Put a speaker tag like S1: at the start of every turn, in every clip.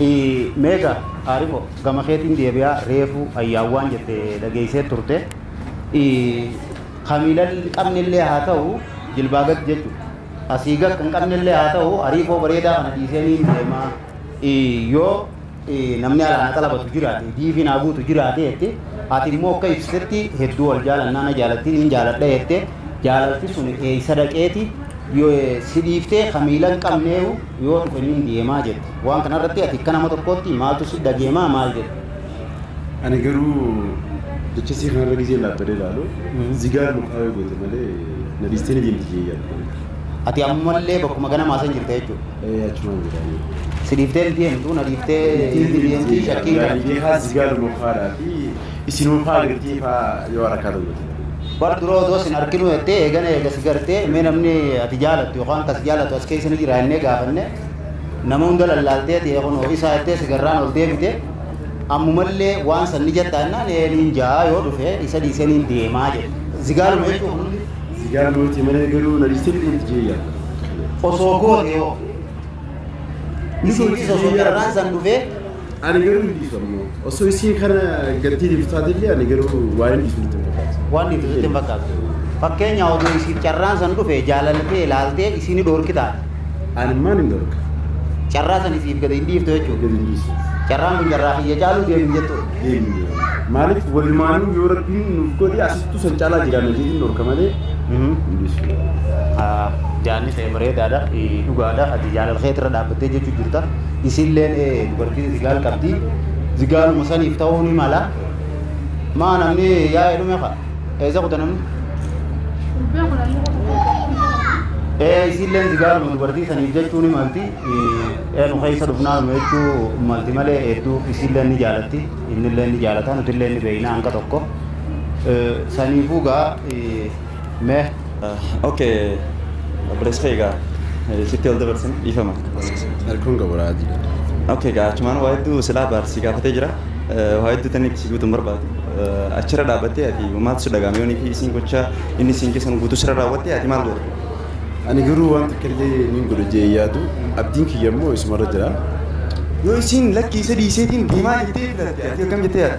S1: Hii mega arifo gama keetiin deebi'a reefu ayyaan waan jette dhageessee turte Hii kamiila qabne illee haa ta'u jilbaa gad jechu asii gad kan qabne illee haa ta'u ariifoo bareedaa kana dhiisee niin deema Hii yoo Hii namni alaa na xalabatu jiraate diifi naa guutu jiraate jette ati immoo akka ibsitetti hedduu wal jaalannaa na jaalatti niin jaaladha jette jaalalti suni eessa dhaqeeti Yoo si dhiiftee kamiila hin qabneeyu Yoo hin dhufiniin deemaa jette. Waan kana irratti ati akka nama tokkootti maaltu si dhageemaa maal jette? Ani
S2: garuu jecha isii kanarra gizeen dhaabbadee ilaalu zigaar mukaa yoo goote malee na dhiistee ni deemti jee yaadu kana. Ati ammallee
S1: bakkuma ganamaa san jirta jechuudha. Ee achumaan jira ani.
S2: Si dhiiftee hin deemtu
S1: na dhiiftee Dhiiftee hin ni deemti deemti jee yaadu. shakkiin kana. Yaani beekaa zigaar
S2: mukaadhaa fi Isinuma faa girtii faa yoo harakkaa tokko itti godhee. Bar dura odoo
S1: sin arkinuu jettee eegana eega si gartee mee namni ati jaalattu yookaan ka si jaalatu as keessa ni jira jennee gaafanne nama hunda lallaaltee ta'e kunoo isaa jettee si garraan ol deebite ammumallee waan san ni jattaa jennaan ee niin ja'a yoo dhufe isa dhiisee niin deemaa jedhe zigaaluma jechuun kun hundi Zigaal mootii
S2: malee garuu na dhiistee fidee itti jee yaadda. osoo
S1: goote yoo ni si dhiisa osoo garraan san dhufee Ani garuu hin
S2: dhiisu amma. Osoo isiin kana gaddii dhiiftu taatellee ani garuu waan hin dhiisu nutti hin fakkaatu. Waan dhiisu nutti hin fakkaatu.
S1: Fakkeenya oduu isiif carraan san dhufe jaalaltee ilaaltee isiin ni dhoorkitaa. Ani maan hin
S2: dhorka. Carraa san
S1: isiif gadi hin dhiiftu jechuudha. Gadi hin dhiisu. Carraan
S2: kun carraa
S1: kiyya caaluu deemu jettuudha. Deemne. Maaliif
S2: walumaanuu yoo rabbiin nuuf godhe asittuu san caalaa jiraanna jedhin dhorka malee hin dhiisu.
S1: Jaanni ta'e bareedaadha. Dhugaadha. Ati jaalala keetirra dhaabbattee jechuu jirta. isiilleen dubartiin zigaal qabdi zigaaluma saniif ta'uu ni mala maa namni yaa'ee dhume ka eessa kuta namni ee isiilleen zigaaluma dubartii saniif jechuu ni malti eenu keessa dhufnaan jechuu malti malee hedduu isiilleen ni jaalatti innilleen ni jaalata nutilleen ni beeyna hanga tokko saniifuu gaa Mee. Ok
S3: obboleessa kee egaa sitti ol dabarsin dhiifama. Elkoon
S2: gaboraati. Ok egaa achumaan
S3: waa hedduu silaa baar si gaafatee jira. Waa hedduu tanni si guutuun barbaadu. Achirra dhaabbattee ati maaltu si dhaga'ame yoonii fi isiin gocha inni isiin keessan guutuu sirra raawwattee ati maal goota? Ani
S2: garuu waan takka illee niin godha jee yaadu abdiin kiyya immoo isumarra jira. Yoo isiin
S3: lakkii isa dhiiseetiin deemaa jettee filatte ati akkam jettee yaadda?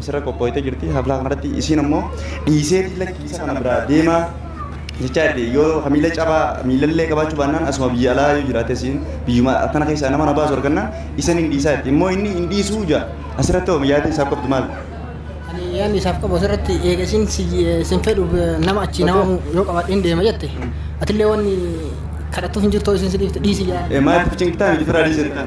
S3: asirra qophooytee jirti haflaa kanarratti isiin ammoo dhiiseetii lakkii isa kana biraa deemaa jechaa jirti yoo ka miila cabaa miilallee qabaachuu baannaan asuma biyya alaa yoo jiraate isiin biyyuma akkana keessaa nama na baasu argannaan isan hin dhiisaa jirti immoo inni hin dhiisuu jaa asirratti hoo yaada isaaf qabdu maal? Ani yaadni
S4: isaaf qabu asirratti eega isin isin fedhuuf nama achii nama yoo qabaadheen deema jette atillee wanni kadhattuuf hin jirtu isin si dhiifte dhiisi yaa. Maaliif cinqitaan hojii firaa
S3: dhiisee?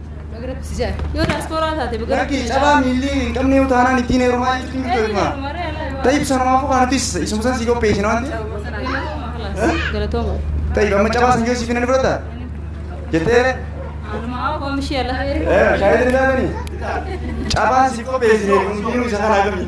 S3: Bagiratti
S5: si ja'a. Yoo daaspooraa taate Lakkii bagiratti cabaa miillii
S3: hin qabne yoo taanaan ittiin heerumaa jechuun hin beekna. Tayyib sanumaafuu kana nutis isuma san sii qopheessina waan ta'eef. Galatooma. Tayyib amma cabaa san yoo siif hin fudhata jettee Anumaa
S5: koomishii ala. shaayii hin daabani.
S3: Cabaa siif qopheessine kun isa kana agamii.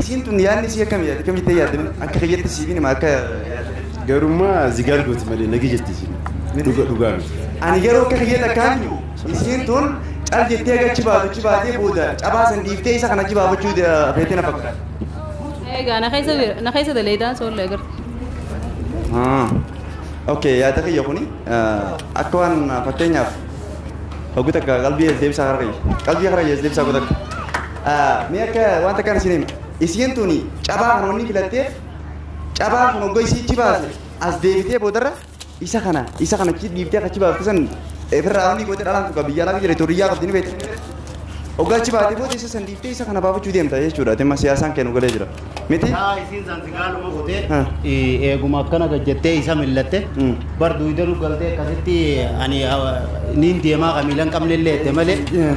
S3: Isiin tun yaadni isii akkami yaaddi? Akkami ittee yaaddi? Akka kiyyatti siif hin hima akka Garummaa
S2: zigaal gooti malee nagi jetti isin. Dhuga dhugaa miti. Ani garuu akka
S3: kiyyatti akkaan jiru isiin tun cal jettee aga achi baatu achi baatee booda cabaa san dhiiftee isa kana achi baafachuu feetee na fakkaata. Egaa na
S5: keessa jira- na keessa daleeydaan soolla agarta. Ah.
S3: Okay, yaada kiyya kuni ah, akka waan ah, fakkeenyaaf hoggu takka qalbii as deebisaa kara kiyya. Qalbii kara kiyya as deebisaa hoggu takka. Mee akka wanta kana isin hima. Isiin tuni cabaa kana wanni filatteef cabaan kun hogga isii achi baase as deebitee boodarra isa kana isa kana achi dhiibtee akka achi baafte san ofirraa wanni goote dhalaan kun biyya alaa jira huriyyaa qabdi ni beekti. Hogga achi baatee booda isa san dhiibtee isa kana baafachuu deemta jechuudha. Dhimma siyaasaan kennu galee jira. Miti? Yaa isiin san si gaaluma
S1: kutee Ah. eh, eeguma akkana gad jettee isa millatte Mm. bar duwida nu galtee akkasitti ani ah, niin deemaa ka miilan qabne illee jette malee Eh.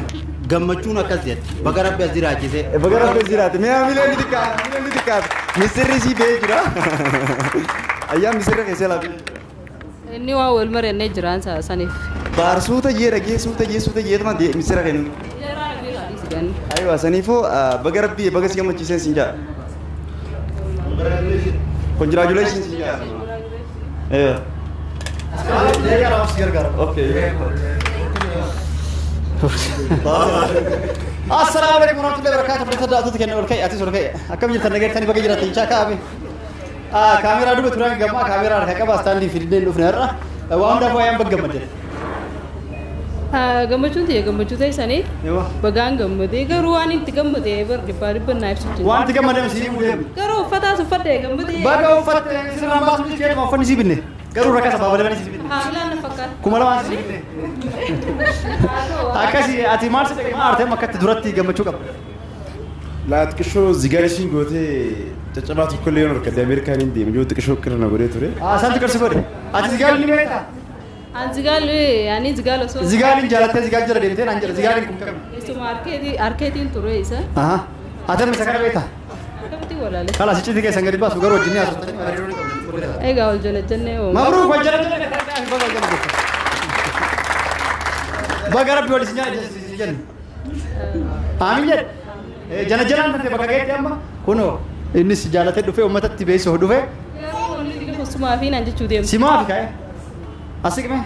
S1: gammachuun akkas jette baga rabbi as jiraachise Baga rabbi jiraate.
S3: Mee hamilee ni xiqqaate. Hamilee ni xiqqaate. Misirri si bee jira. Ayyaan misirri keessee laafee jira. Inni
S5: waan wal marannee jiraan sa- saniif. Baar suuta jee
S3: dhagee suuta jee suuta jee tuma dee misira kennu. Jaraa rabbii haa dhiisi ganni. Aywa saniifuu ah, baga rabbii baga si gammachiiseen siin jaa. Congratulations siin jaa. Aywa. Okay.
S1: Assalamu alaikum warahmatullahi wabarakatuh. Fudhata daawwattoota keenya ol ka'e atis ol ka'e. Akkam jirtan nageettani baga jiratan chaa ka'ame. Kaameeraa duuba turan gammaa kaameeraa harka qaba istaandii fidneen dhufne har'a waan hundaaf waayaan bagga madde.
S5: Gammachuun ta'e gammachuu ta'e sanii bagaan gammadee garuu waan itti gammadee bar dhibbaa dhibba naa ibsitu. Waan itti gammadame sii muudee.
S1: Garuu uffataas uffadhee
S5: gammadee. Baga uffatte
S1: sirraan baasuu ni keeduma uffanni sii binne. Garuu rakasa baabalaman sii binne. Haamilaan na fakkaata. Kuma
S5: lamaan sii
S1: binne. Akkasii ati maal si dhaqee maal artee makkatti duratti gammachuu qabda. Laa
S2: xiqishoo zigaa ishiin gootee caccabaa tokko illee yoon argadde Ameerikaan hin deema yoo xiqishoo qirra na godhee ture. Asaanti qarsi godhe.
S1: Ati zigaal ni beekta? An zigaal
S5: ani zigaal osoo. Zigaal hin jaalattee zigaal
S1: jala deemtee naan jedha zigaal hin kun qabne. Isuma arkeetii
S5: arkeetiin ture isa. Aha. Ati amma isa
S1: kana beekta? Akkamitti walaale.
S5: Kala si citi keessan gadi baasu
S1: garuu wajjin ni haasoftan. Hariiroo ni qabdan. Egaa wal jala jennee
S5: hoo. Mabruuk wal jala
S1: jennee baga rabbi wal isin jaallatee jenna. Aamin jedhe. Jana jalaan tante bakka geetti amma kunoo innis jaalatee dhufee uummatatti beeksisuuf dhufee.
S5: Sumaa fi naan jechuu deemtu. Simaa fi ka'e.
S1: Asiqme.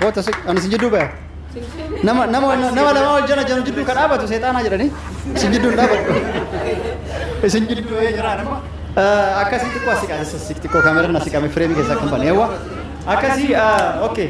S1: Goota asiq. Ani sin jidduu ba'e. Nama nama nama lama wal jana jana jidduu ka dhaabatu seexaanaa jedhanii sin jidduu hin dhaabatu. Isin jidduu ba'ee jira nama. Akkasii xiqqoo asiqaa xiqqoo kaameraan asiqame fireemii keessaa kan bane. Akkasii okay.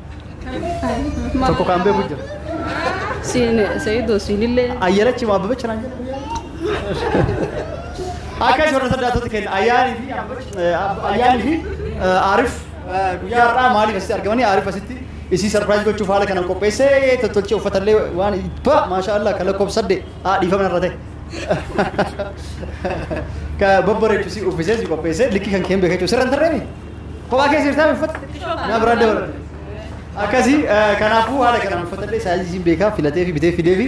S1: Tokko kan beeku jira. Siin
S5: Sayiidoo siinillee Ayyanachi moo Abbabecha naan
S1: jedhamu. Akka isin warra saddaatota kenna ayyaanii fi Abbabecha- eh, Ab- ayyaanii fi eh, Aarif eh, guyyaa har'aa maaliif asitti argamanii Aarif asitti isii sarpiraayiz gochuuf haala kanaan qopheessee tottolchee uffatallee waan ibba maashaa Allah kan lakkoofsa saddeet haa dhiifama irra ta'e. Ka babbareechu si uffisee si qopheessee likkii kan keen beekachuu sirra hin tarreemi. Kophaa keessa jirtaa uffata? Na biraa dabalan. Akkasii kanaafuu haala kanaan uffatadhee saayiziin beekaa filatee fi bitee fidee fi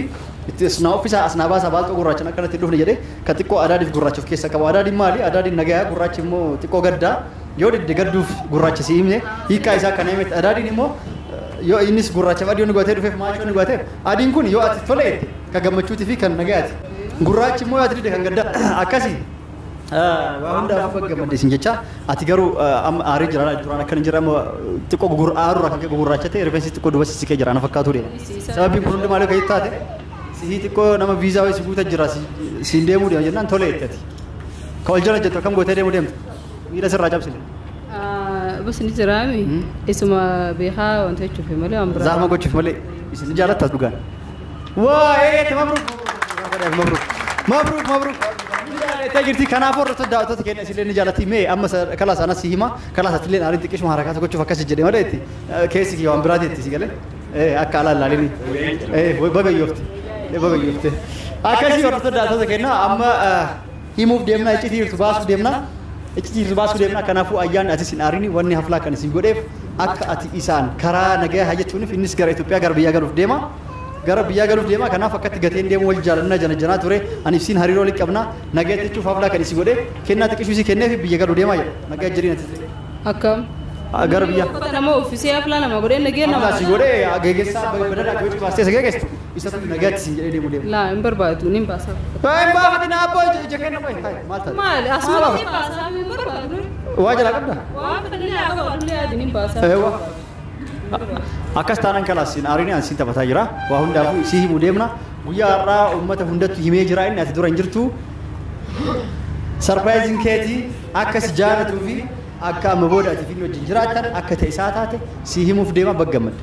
S1: itti as naa uffisaa as naa baasaa baalxoo gurraachan akka natti hin dhufne jedhee ka xiqqoo adaadiif gurraacha of keessaa qabu. Adaadiin maali? Adaadiin nagayaa gurraachi immoo xiqqoo gaddaa yoo didde gadduuf gurraacha si himne hiikaa isaa kana himetti. Adaadiin immoo yoo innis gurraachaaf adii yoo nu gootee dhufeef maachoo nu gooteef adiin kun yoo ati tole jette ka gammachuutii fi kan nagayaati. Gurraachi immoo yoo ati didde kan gaddaa akkasii. Waa hundaaf baga gammadde isin jecha ati garuu amma aaree jira laal duraan akka hin jirre amma xiqqoo gugur aaruu irraa kan ka'e gugurraachate rifeensi xiqqoo duba sissiqee jira na fakkaatuu deema. Sababiin kun hundi maal akka taate sihii xiqqoo nama viizaa wayii si guuta jira siin deemuu deema jennaan tole jettati. Ka wal jala jettu akkam gootee deemuu deemta miila sirraa cabsine.
S5: Busni jiraami isuma beekaa wanti jechuufi malee waan biraa. Zaama gochuuf malee
S6: isin ni jaalattas dhugaan. Waa'ee mabruk mabruk mabruk mabruk Itti jirti kanaafuu irratti daawwattoota keenya isillee ni jaalatti mee amma kalaa sana si hima kalaa isaatti illee aariin xiqqishuma harakaa isa gochuuf akkasi jedhe malee itti keessi kiyya waan biraati itti si galee akka alaa ilaalini baga yoofti baga yoofti akkasii hordoftoota daawwattoota keenya amma himuuf deemna iccitii jirtu baasuu deemna iccitii jirtu baasuu deemna kanaafuu ayyaanni atis hin aarini wanni haflaa kan isin godheef akka ati isaan karaa nagaya hayyachuunif innis gara Itoophiyaa gara biyyaa galuuf deema gara biyyaa galuuf deema kanaaf akkatti gateen deemu wal jaalanna janajjanaa ture ani ibsiin hariiroo walitti qabna nagayatti jechuuf haflaa kan isi godhe kennaa xiqqishuu isii kenneef biyya galuu deema jedha nagaya jedhiin ati Akkam.
S5: gara biyyaa
S6: Uffata nama uffisee haflaa
S5: nama godhee nagee nama. haflaa si godhe geggeessaa
S6: badadhaa gochuu baastee isa geggeessu isatu nagaatti isin jedhee deemu deemu. Laa hin barbaadu nin
S5: baasaa. Taa hin baafatin
S6: abboo ija ija kenna qoy hayi maal taate. Maali asuma nin baasaa hin
S5: barbaadu. Waa jalaa qabda. Waan
S6: fedhanii haa qabaatu
S5: illee yaadi nin baasaa. Eewwa.
S6: Akkas taanaan kalaas siin aarinii aan siin taphataa jira. Waa hundaafuu isii himuu deemna. Guyyaa har'aa uummata hundattu himee jira inni ati dura hin jirtu. Sarpiraayiziin keetii akka si jaalatuu fi akka amma booda ati fi inni wajjin jiraattan akka ta'e isaa taate sii himuuf deema baggammadde.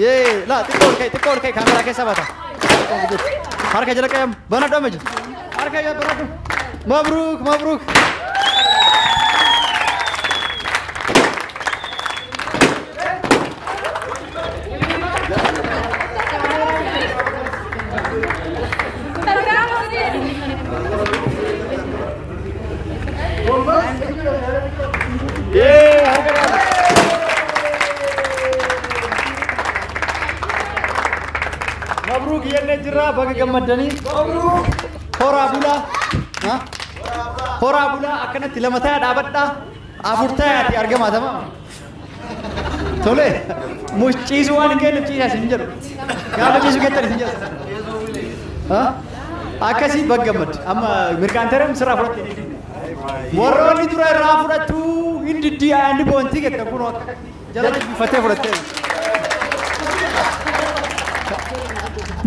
S6: Yee, laa xiqqoo ol ka'i, xiqqoo ol ka'i kaameraa keessa bata. Harka jala qayyam, banadhu amma jiru. Harka jala banadhu. Mabruuk, mabruuk. Mabruuk jennee jirra baga gammaddanii. Horaa bulaa. Ha? Horaa bulaa akkanatti lama ta'a dhaabadhaa. Afur ta'aati argamaa tamam. Tole muciisuu waan hin geenye ciisaa isin jedhu. Gaafa ciisuu geettan isin jedhu. Ha? Akkasii baggamad. Amma mirqaan tareen sirraa fudhatte. Warroonni dura irraa fudhattu hin diddii aanni boontii geettan kun jala jibbifattee fudhatte.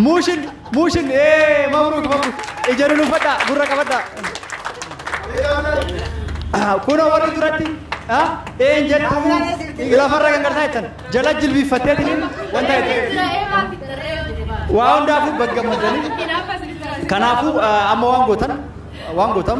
S6: Muushin Muushin ee mabruuk mabruuk ija lulufadhaa gurra qabadhaa. Kunoo warri duratti een jettu lafarra kan gartaa jettan jala jilbiiffattee tiniin wanta jettan. Waa hundaafuu baggammadanii. Kanaafuu amma waan gootan waan gootan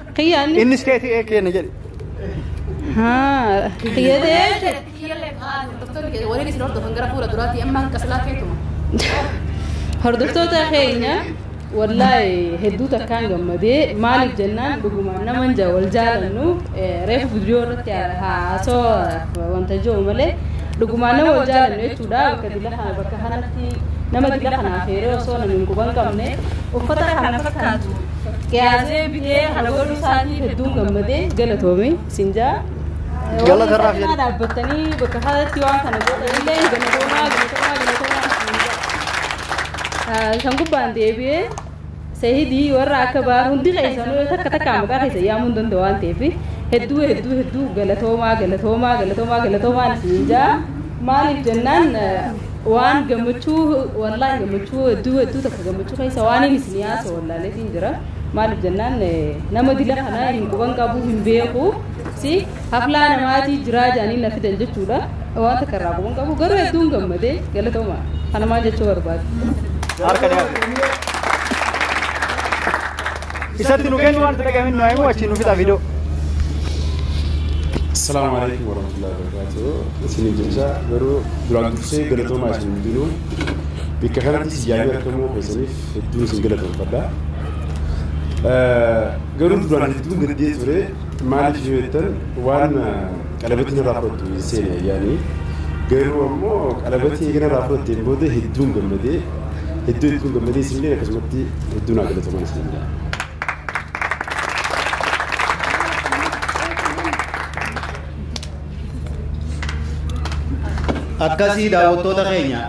S6: Kiyya inni. Innis keetii
S5: ee keenya
S6: jedhe.
S5: Haa. Kiyya ta'ee. Waliin isin hordofan gara fuula duraatti amma hanqa silaa keetuma. Hordoftoota keenya wallaahi hedduu takkaan gammadee maaliif jennaan dhugumaan nama hin jaa- wal jaalannu eh, reefu viidiyoo irratti haasawaaf wanta jiru malee dhugumaan nama wal jaalannu jechuudha bakka dila kana bakka kanatti nama dila kanaaf heeree osoo namni hin quban qabne uffata kana fakkaatu Gaazee bitee kana godhuu isaatiif hedduun gammadee galatoomi isin jaa. Gala
S6: karraa fi Walii dhaabbattanii bakka
S5: kanatti waan kana godhanillee galatoomaa galatoomaa galatoomaa isin jaa. Kan gubbaan deebi'ee seehidii warra akka baar hundi keessanuu takka takka maqaa keessa yaamuu hin danda'u waan ta'eef hedduu hedduu hedduu galatoomaa galatoomaa galatoomaa galatoomaa isin jaa. Maaliif jennaan Waan gammachuu wallaahi gammachuu hedduu hedduu takka gammachuu keessa waan inni isin yaasa wallaaleetiin jira maaliif jennaan nama dila kana hin quban qabu hin beeku si haflaa namaatii jiraa jaanii na fidan jechuudha waan takka irraa quban qabu garuu hedduun gammadee galatooma kana maal jechuu barbaade. Harka
S6: dhiyaate. Isatti nu kennu wanta dhagahin nu himu achi nu fixa video. Assalamu
S2: alaikum warahmatullahi wabarakatuh. Isinii jecha garuu duraan dursee galatoomaa isin hundinuu bakka kanatti si yaa'ee argamuu keessaniif hedduun isin galatoomfadha. Garuu duraan hedduun gaddee ture maaliif yoo jettan waan Qalabatiin irraa fudhattu hin seene ayyaanii. Garuu ammoo qalabatii eegana irraa fudhatteen booda hedduun gammadee hedduu hedduun gammadee isinillee akkasumatti hedduun haa galatoman isin jedha.
S1: Akkasii daawwattoota keenya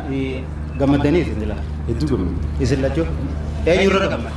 S1: gammaddanii isin jira. Hedduu gammadee.
S2: Isin lachuu
S1: eenyu irra gammada?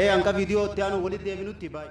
S1: Ee hanga viidiyoo itti aanu walitti deebinutti bye.